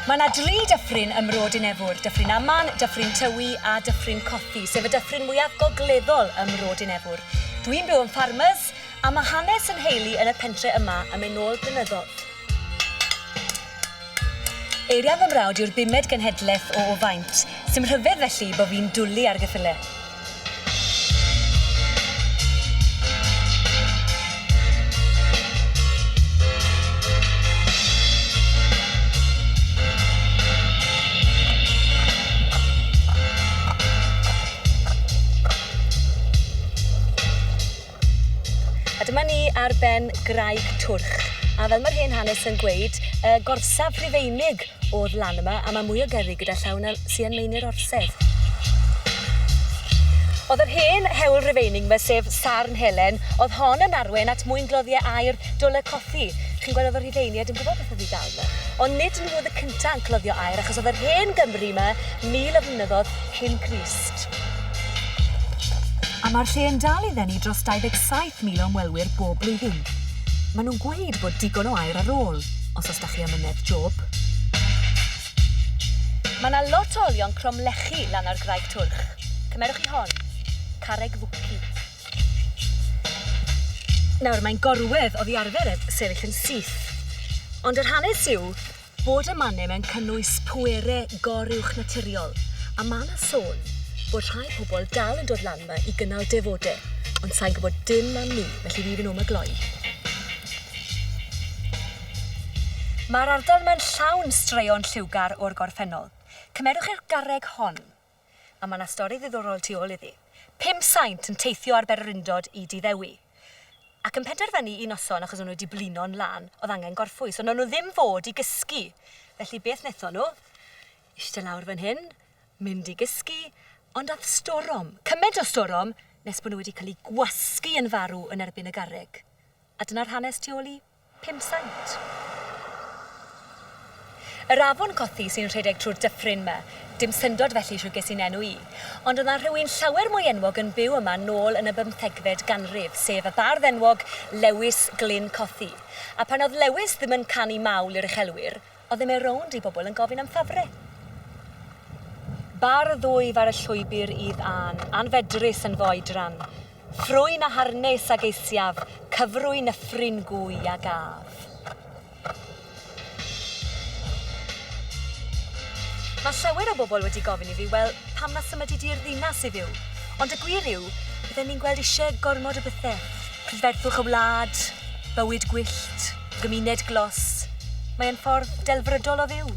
Mae yna dri dyffryn ym Mro Dinefwr, Dyffryn Aman, Dyffryn Tywi a Dyffryn Cothi, sef y dyffryn mwyaf gogleddol ym Mro Dinefwr. Dwi'n byw yn Farmers a mae hanes 'y nheulu yn y pentre' yma yn mynd nôl blynyddoedd. Eiriau fy mrawd yw'r bumed genhedlaeth o o faint, sy'm rhyfedd felly bo fi'n dwli ar geffyle. A dyma ni ar ben graig Twrch, a fel mae'r hen hanes yn gweud, y gorsaf Rhufeinig o'r lan yma, a mae mwy o gerrig gyda llaw na sy yn Meini'r Orsedd. Oedd yr hen hewl Rufeinig yma, sef Sarn Helen, oedd hon yn arwain at mwyngloddie aer Dwl y Cothi. Chi'n gweld oedd y Rhufeinied yn gwybod beth oedd i ddal yma. Ond nid nhw oedd y cynta yn cloddio aer, achos oedd yr hen Gymry yma mil o flynyddodd cyn Crist. A mae'r lle yn dal i ddenu dros 27,000 o ymwelwyr bob blwyddyn. Maen nhw'n gweud bod digon o aer ar ôl, os oes 'da chi amynedd job. Mae 'na lot o olion cromlechi lan ar Graig Twrch. Cymerwch chi hon. Carreg Fwci. Nawr, mae'n gorwedd oddi arfer ef sefyll yn syth. Ond yr hanes yw, Bod y manem yn cynnwys pwere goruwchnaturiol, a ma' 'na sôn bod rhai pobl dal yn dod lan 'ma i gynnal defode, ond sai'n gwbod dim am 'ny, felly fi fyn 'no am y gloi. Ma'r ardal 'ma'n llawn straeon lliwgar o'r gorffennol. Cymerwch eich garreg hon. A mae 'na stori ddiddorol tu ôl iddi. Pum saint yn teithio ar bererindod i Dŷ Ddewi. Ac yn penderfynu un noson, achos o'n nhw 'di blino'n lân, oedd angen gorffwys, ond wnawn nhw ddim fod i gysgu. Felly beth wnaethon nhw? Ishte lawr fan hyn, mynd i gysgu, ond ath storom, cymaint o storom, nes bod nhw wedi cael eu gwasgu yn farw yn erbyn y garreg. A dyna'r hanes tu ôl i Pump sant. Yr afon Cothi sy'n rhedeg trwy'r dyffryn 'ma. Dim syndod felly shwt ges i'n enw i. Ond o'dd 'na rhywun llawer mwy enwog yn byw yma nôl yn y bymthegfed ganrif, sef y bardd enwog Lewis Glyn Cothi. A pan o'dd Lewis ddim yn canu mawl i'r uchelwyr, Odd e'n mynd rownd i bobl yn gofyn am Fabre. Bar ddwyf ar y llwybr i dân, anfedrus yn fy oedran. Ffrwyn a harnes a geisiaf, cyfrwy nyffryn gwy a gaf. Mae llawer o bobl wedi gofyn i fi, wel, pam na symydu di i'r ddinas i fyw? Ond y gwir yw, bydden ni'n gweld isie gormod o bethe. Prydferthwch y wlad, bywyd gwyllt. Gymuned glos. Mae e'n ffordd delfrydol o fyw.